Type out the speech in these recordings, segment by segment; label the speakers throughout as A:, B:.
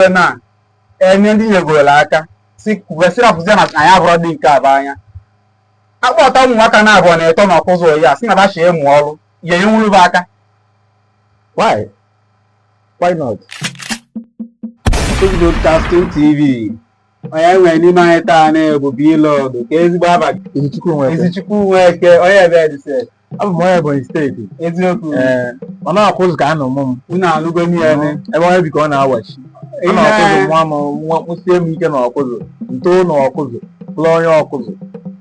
A: wee na-enye ndị nyegorola aka si wesị rapụzie na anyị abụrọ dị nke abụ anya akpọta ụmụaka na-abụ na-eto na ọkụzụ oyi a sị na bachi ịmụ ọrụ ya enyenwuru bụ aka why why not Broadcasting TV onye nwere n'ime anyị taa bụ Blog ka ezigbo abalị Izuchukwu Nweke onye ebe edise abụ m onye Ebonyi steeti eziokwu ee mana ọkụzụ ka a nọ mụọ m unu anụgo m ya ebe ebe onye bi ka ọ na-awachi ọ Ihe- na ọkụzụ nwa m nwa kwụsie m ike na ọkụzụ ntoo na ọkụzụ lụọ onye ọkụzụ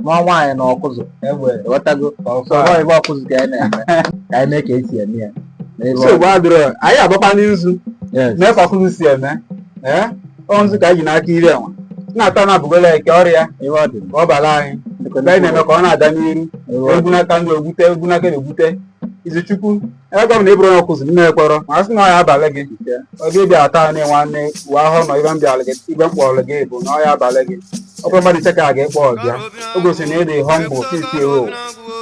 A: nwa nwaanyị na ọkụzụ ị ghọtago so ọ bụ ọkụzụ ka anyị na-eme ka anyị mee ka esi eme ya n'ebe ọ- nsogbu adịrọ anyị agbakwa n'izu yes mee ka ọkụzụ si eme ee ọnzi ka anyị ji n'aka iri enwe na-ata na abụgola eke ọrịa ebe ọ dị ka ọ bara anyị mgbe anyị na-eme ka ọ na-ada n'iru egwu n'aka ndụ egwute egwu n'aka na-egwute Izuchukwu ebe gọvanọ ị bụrụ onye ọkụzụ nne e kpọrọ ma a sị na ọ ya abalị gị ọ gị bịa ata anyị nwanne uwe ahụ nọ ibe m bịara gị ibe m kpọrọ gị bụ na ọ ya abalị gị ọ bụrụ mmadụ iche ka a ga-akpọ ọbịa o gosiri na ị dị humble titi ewo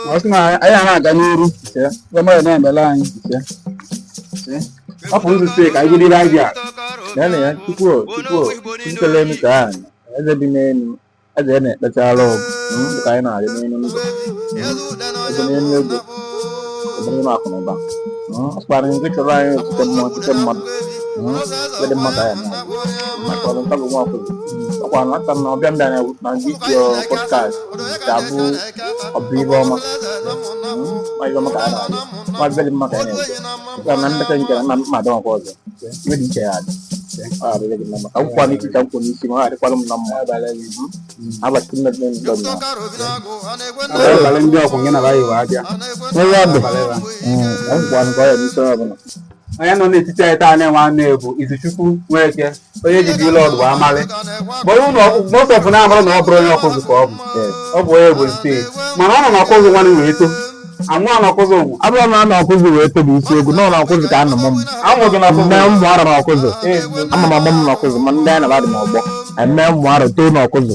A: ma ọ sị na anyị a na-aga n'iru ife mmadụ na-emere anyị ife ọ pụrụ izute ka anyị jiri aja na na ya tupu tupu tuputere elu ka ahụ eze bi n'elu eze ya na-ekpechara ọgụ ka anyị na-arị n'elu ndụ eze n'elu ego eze n'elu akụ na ụba ọkpara nke chọrọ anyị otuto mmụọ otuto mmadụ dị mmadụ anyị maka ọrụ ntabụ nwa akwụkwọ ọkwa na aka na ọbịa ndị anyị na ndị isi pọdkast ga-abụ ọbụ ihe ọma ma ihe ọma ka anyị na-arịọ ma bịa dị mma ka anyị na-ege Ka na mmeta nke na mma adọghọkwa ọzọ. Iwe dị iche ya adị. Ọ adịghị gị na mma. Ka nkwụkwa n'isi ka nkwụ n'isi ma ọ adịkwala m na mma. Abalị nne nne ndọ m na. Abalị ndị ọkwụ gị na bayi wee abịa. Onye ọ dị? Abalị ba. Ka nkwụkwa n'ụkọ ya n'isi onye ọbụla. Onye nọ n'etiti anyị taa na-enwe anụ bụ Izuchukwu Nweke onye ji dị lọd bụ amalị kpọrọ ụlọ ọkụzụ most of na ahụrụ na ọ bụrụ onye ọkụzụ ka ọ bụ ọ bụ onye Ebonyi steeti mana ọ nọ na ọkụzụ nwanne wee too amụ na ọkụzụ ụmụ abụrụ na anọ ọkụzụ wee tobe eziokwu na ọ na ọkụzụ ka a nọ mụọ m amụzụ na mme ọkụzụ ụmụ arọ na ọkụzụ ama m amụ m na ọkụzụ ma ndị anyị na-abadị m ọgbọ eme ụmụ arọ too na ọkụzụ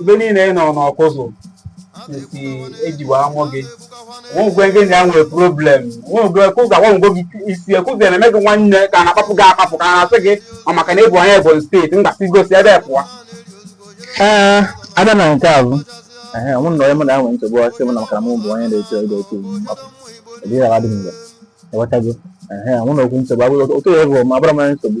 A: ife niile ị nọ n'ọkụzụ since e ji wee mụọ gị onye gị na ya nwere problem nwegwe kụga nwegwe gị isi ọkụzụ na-eme gị nwanne ka a na-akpapụ gị akpapụ ka a na-asị gị ọ maka na ị bụ onye Ebonyi steeti a ga-asị gị si ebe a pụọ ee abịa na nke a bụ ehe mụ na onye mụ na ya nwere nsogbu ọ sị mụ na maka na mụ bụ onye na-eto ego otu mgbapụ ọdịghị awa dị mgbe ị ghọtago ehe mụ na okwu nsogbu abụghị otu ya bụ ma abụrọ m onye nsogbu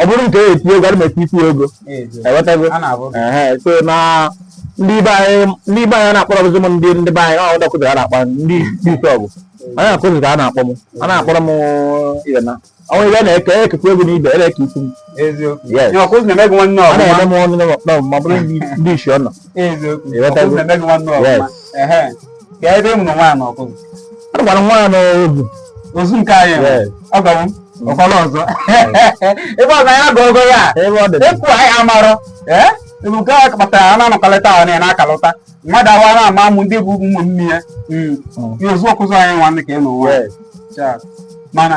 A: ọ bụrụ nke eti ego ana m eti isi ego ewetago so na ndị be anyị na-akpọrọzi m ndị ndị be anyị ọ dọkụtara a na-akpa ndị isi ọgụ onye akụzi ka a na-akpọ m a na-akpọrọ m ihe na ọnwa ibe na-eke ekekwa egwu n'ibe ere ka isi m na-eme m ọnụ ma ọ bụrụ ndị isi ọ nọ agwara nwa ya n'ozu ozu nke anyị ọ gawo ọkwala ọzọ ebe ọzọ ya ga ogo ya ekwu anyị amarọ ebe nke a kpatara a na-anọkọlịta ahụ na akalụta mmadụ awa na ama amụ ndị bụ ụmụ nne ya ozu Ọkụzụ anyị nwanne ka ị na ụwa mana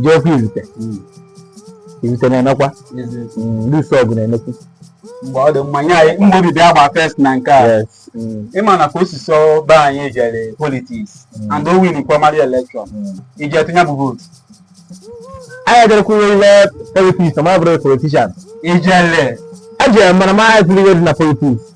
A: ji ọkụ izute hmm. izute na-enekwa hmm, ndị isi ọgụ na-enekwu mgbe ọ dị mmanya anyị mgbe obi bịa gba first na nke a hmm. ịma na ka o si sọ be anyị jere politics and o win primary election iji etinye bụ vootu anyị ejerekwuru ime politics ma bụrụ politician ijele eji mara ma anyị tụrụ ihe dị na politics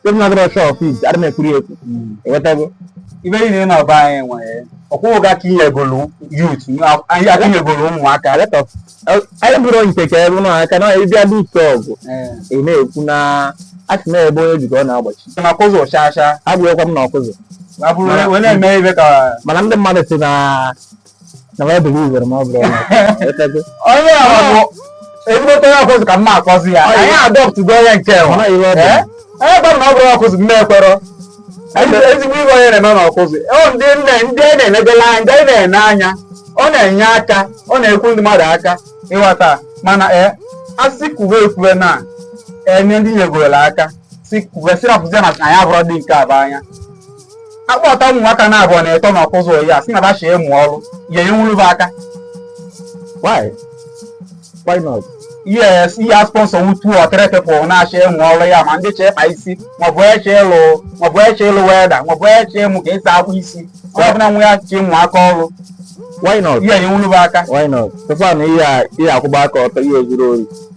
A: Steven agụrụ ọchọ office adị m ekwuri ekwu enwetago ibe niile ị na-aba anyị nwere ọkwụghị gị aka i nyegolu youth anyị aka i nyegolu ụmụaka let us anyị bụrụ nke ka ebe ụlọ aka na ịbịa dị ike ọgụ ị na-ekwu na asị na ebe onye jikọ na-agbachi na Ọkụzụ ọchacha abụghịkwa m na Ọkụzụ wee na-eme ibe ka mana ndị mmadụ si na na ọ bụrụ iwere ma ọ bụrụ onye ọrụ bụ ezigbote onye Ọkụzụ ka mma akọzi ya anyị adọpụtụgo onye nke nwa onye gbara na ọ bụrụ ọkụzụ mma ekwero ezigbo iwe onye na-eme na Ọkụzụ ndị nne ndị a na-enegala anya ndị a na-ene anya ọ na-enye aka ọ na-ekwu ndị mmadụ aka ịghọta mana ee asị kwuwe ekwuwe na enye ndị nyegorola aka si kwuwe si rapụzi na anyị abụrụ dị nke abụ anya akpọta ụmụ nwaka na abụọ na ịtọ na Ọkụzụ Oyi a sị na ba chọ ịmụ ọrụ ya enwuru bụ aka why why not yes ihe a sponsor wutu ọkịrị people na-achọ ịmụ ọrụ ya ma ndị chọ ịkpa isi maọbụ eche ịlụ maọbụ eche ịlụ welder maọbụ eche ịmụ ka esi akwa isi ọ bụla nwa ya chọ ịmụ aka ọrụ why not ihe enwuru bụ aka why not tụkwa na ihe a ihe akwụba aka ọtọ ihe zuru Oyi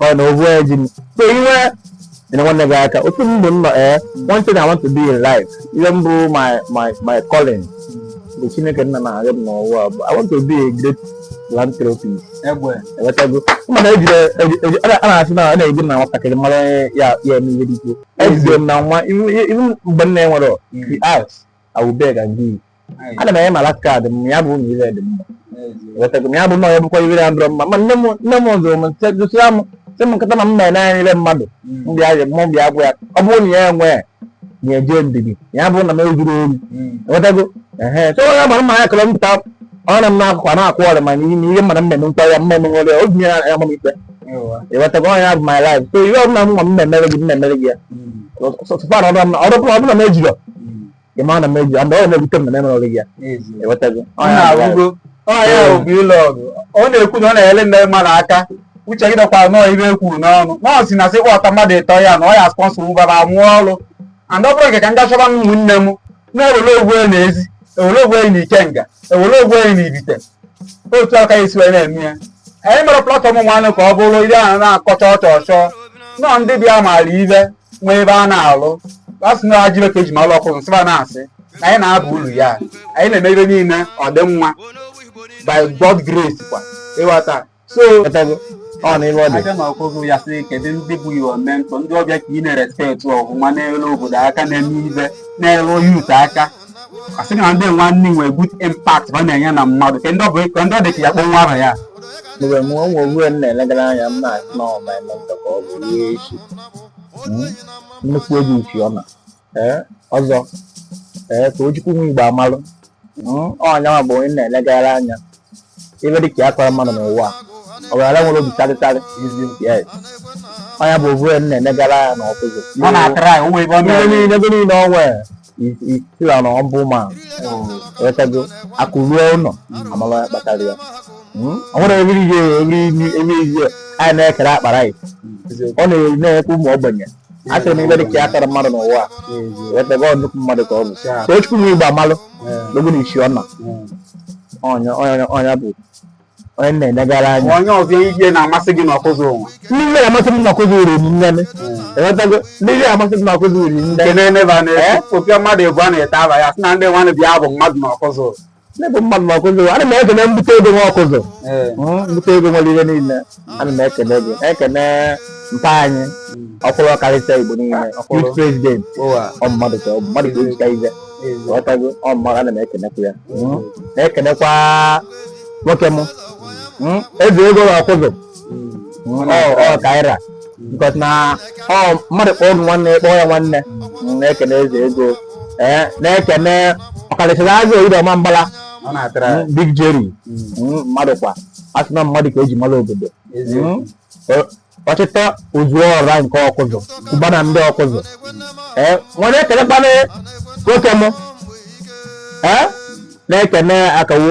A: ọ na ovu eji m so iwe nyere nwanne gị aka otu m bụ m nọ ee one thing I want to do in life ihe m bụ my my my calling bụ Chineke nna na arịọ m n'ụwa bụ I want to be a great philanthropist egbe ewetago mana ejire eji- eji- a na-asị na a na-eji na nwatakịrị mara onye ya ya eme ihe dị ikwu ejidere m na nwa iwu- iwu mgbe m na-enwere the arts I will beg and give. Ana m enye ma last card m ya bụ ụmụ ire dị mma. Wetago m ya bụ na ya bụkwa ire adọrọ mma. Ma nne m nne m zụrụ m nse gosiri m sị m nkịta ma m na-ene anya ire mmadụ. M bịa ya mụ bịa gwa ya ọ bụrụ na ya enwe ya eje ndidi ya bụ na m ezuru ori. Wetago ehe so ya gbara mma ya kọrọ mpụta ọ na m na-akụkwa na-akwụ ọrịa ma n'ihi na ihe mmadụ mmemme nkwa ya mmemme nwere obi ya ya mụ ikpe. ịghọtago ọ ya bụ my life so ihe ọbụla nwa m na-emere gị m na-emere gị ya sọsọfa na ọrụ ọrụ ọbụla m ejirọ ị ma na m ejirọ ndị ọrụ na-ebute m na m emere gị ya ịghọtago ọ ọ ya bụ life. na-awụgo ọnya ahụ bụ ile ọgụ ọ na-ekwu na ọ na-enye ndị mmadụ aka uche gị dịkwa n'ive o kwuru n'ọnụ nọọsụ na sị kpọta mmadụ ịtọ ya na ọ ya sponsor va mụọ ọrụ and ọ bụrụ nke ka m gachọba ụmụnne m na-ewere ovu onye na ezi ewere ovu onye na ikenga ewere ovu onye na ivite otu a ka e si wee na-eme ya anyị mere platform nwanne ka ọ bụrụ ihe a na-akọcha ọchọ ọchọ nọ ndị bịa maara ive nwee ebe a na-arụ a sị na ajịbe ka eji malụ ọkụ nsịba na-asị na anyị na-aba uru ya anyị na-eme ive niile ọ dị mma by God grace kwa ịghọta so Ghọtago? ọ na ive ọ dị a bịa na ọkụzụ ya sị kedu ndị bụ your mentor ndị ọ bụ va ka ị na-respect ọhụma n'elu obodo aka na-eme ive nyelu youth aka asị na ndị nwanne nwee good impact ha na-enye na mmadụ ka ndị ọ bụ ka ndị ọ dị ka ya kpọọ nwa aha ya mgbe m o nwee onye m na-elegara anya m na-asị na ọ my mentor ka ọ bụ ihe echi nnukwu ego isi ọ na ee ọzọ ee ka ojukwu nwa igboamalụ Mm, ọ ya nwa bụ onye na-elegara anya ive dị ka ya kọrọ mmadụ n'ụwa ọ gara nwere obi charity yes ọ ya bụ ovu onye na-elegara anya na ọkụzụ ọ na-atara ya onwe ebe ọ ebe niile ebe niile ọ nwere title na ọ bụ ịghọtago akụ ruo ụlọ amalụ onye kpatara ya Mm, ọ nwere ebe niile ebe niile anyị na-ekere akpa rice ọ na-enye ụmụ ogbenye achọrọ m ive dị ka ya tara mmadụ n'ụwa a ịghọtago ọ nnukwu mmadụ ka ọ bụ ka ojukwu nwa igboamalụ n'ogo na isi ọna ọ ya ọ ya ọ ya bụ onye m na-enegara anya onye ọzọ ihe na-amasị gị n'ọkụzụ ụwa ndị ihe na-amasị m n'ọkụzụ rinne ịghọtago ndị ihe na-amasị m n'ọkụzụ rinne kene neba na-efu mmadụ ebu a na-ete ava ya sị na ndị nwanne bịa bụ mmadụ n'ọkụzụ n'ebe mmadụ ma ọkụzụ ana m ekene mbute ego nwa ọkụzụ mbute ego nwere ihe niile ana m ekene gị ekene mpa anyị ọkwụrụ ọkarịsịa igbo niile youth president ọ mmadụ ka ọ bụ mmadụ ka eji aka ịghọtago ọ mmadụ ana m ekenekwa ya na-ekenekwa nwoke m eze ego na ọkụzụ ọ kaira because na ọ mmadụ kpọọ m nwanne kpọọ ya nwanne na-ekene eze ego ee na-ekene ọkalichara azụ oyiri ọma mgbala big jerry mmadụ kwa asị na mmadụ ka eji mara obodo ọchịchọ ozu ọra nke ọkụzụ ụba na ndị ọkụzụ ee m wee kenekwa nwoke m ee na-ekene akawo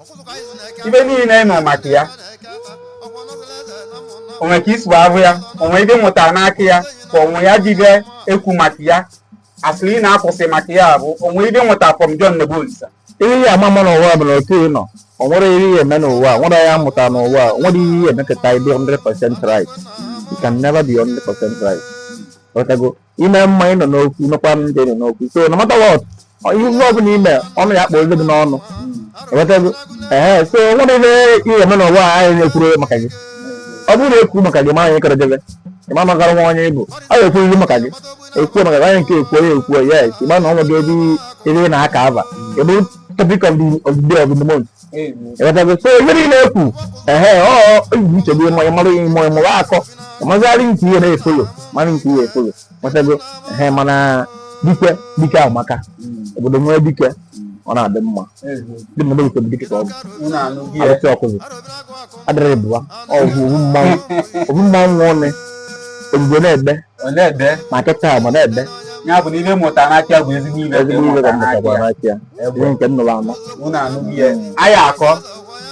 A: ive niile ị nụ maka ya o nwe ka i si ahụ ya o nwe ive ị mụta n'aka ya ka onwe ya jibe ekwu maka ya asịrị ị na-akwụsị maka ya bụ o nwe ive ị mụta from John Nebolisa ihe ị ya-ama ama n'ụwa bụ na otu ị nọ o nwerọ ihe ị ya-eme n'ụwa nwere ya mụta n'ụwa o nwerọ ihe ị ya-emekọta i be 100% right you can never be 100% right i me mma ị nọ n'okwu nọkwa m dị n'okwu so no matter what ihe ọbụla i me ọnụ ya akpọ ozi gị n'ọnụ ị wọtago ehe so o nwerọ ihe ị ya-eme n'ụwa a anyị na-ekwuru maka gị ọ bụrụ na ekwu maka gị ma anyị kọrọ debe ịma magara nwa onye ị bụ ọ ga-ekwu ihe maka gị ekwu maka gị anyị nke ekwu onye ekwu yes ị ma na ọ nwere ebe ebe ị na-aka ava i be topic of the of the day of the month so ihe niile ekwu ehe ibu nchegbu ịmụ ịmarụ ịmụ ịmụrụ akọ mazarị nke ị na-efollow mara nke ị ya-efollow ị matago ehe mana dike dike amaka obodo nwee dike ọ na-adị mma dị mmadụ nke dike ka ọ bụ arụsị Ọkụzụ adịrị bụwa ọ bụ ovu mmanwụ ovu mmanwụ ọnụ ebube na-egbe ọ na-ebe ma kịta ma na-ebe ya bụ na ive ị mụta n'aka bụ ezigbo ive ka ezigbo ive ka ị mụta mụtakwara n'aka n'aka ya Egbe. ihe nke m nụrụ anụ unu anụghị ya anyị akọ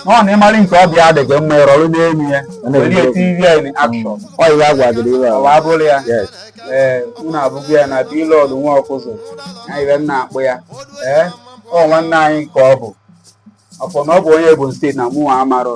A: na ọ na ị marị nke ọ bụ ya dị gị mma ị rọrọ n'elu ya were ya tiri ya in action ọ ihe a gwagịrị iwe ọwa abụrụ ya yes ee unu abụghị ya na Bilọd nwa Ọkụzụ ya ive m na-akpọ ya ee ọ nwanne anyị ka ọ bụ ọ sọ na ọ bụ onye Ebonyi steeti na mụnwa amarọ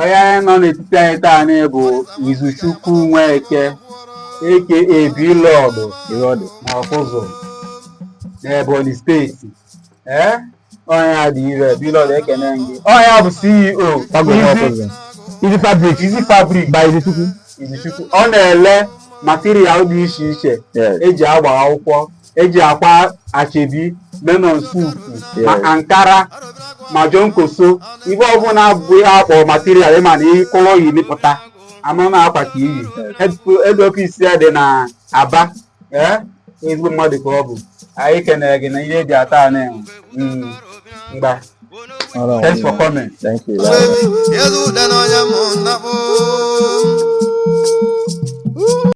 A: onye a nọ n'etiti anyị taanị bụ Izuchukwu Nweke a.k.a Bilọdụ ịghọdị na Ọkụzụ n'Ebonyi steeti ee onye a dị ire Bilọdụ ekene gị onye a bụ CEO Agụ Izu- Ọkụzụ. Izu fabric. Izu fabric By Izuchukwu. Izuchukwu ọ na-ele material dị iche iche Yes. e ji agba akwụkwọ e ji akwa ashebi men on suit ma Yes. ankara ma jonkoso ive ọbụla bụ ihe a kpọ material ma nke ị yi ị pụta a ma na akwa ka i yi ebe ọfisi ya dị na Aba ee ezigbo mmadụ ka ọ bụ anyị kenere gị na ihe e ji ata anụ enwe Mm, mgba All right. thanks for coming Thank you. Yezu dị n'ọnya mụ nnakpụ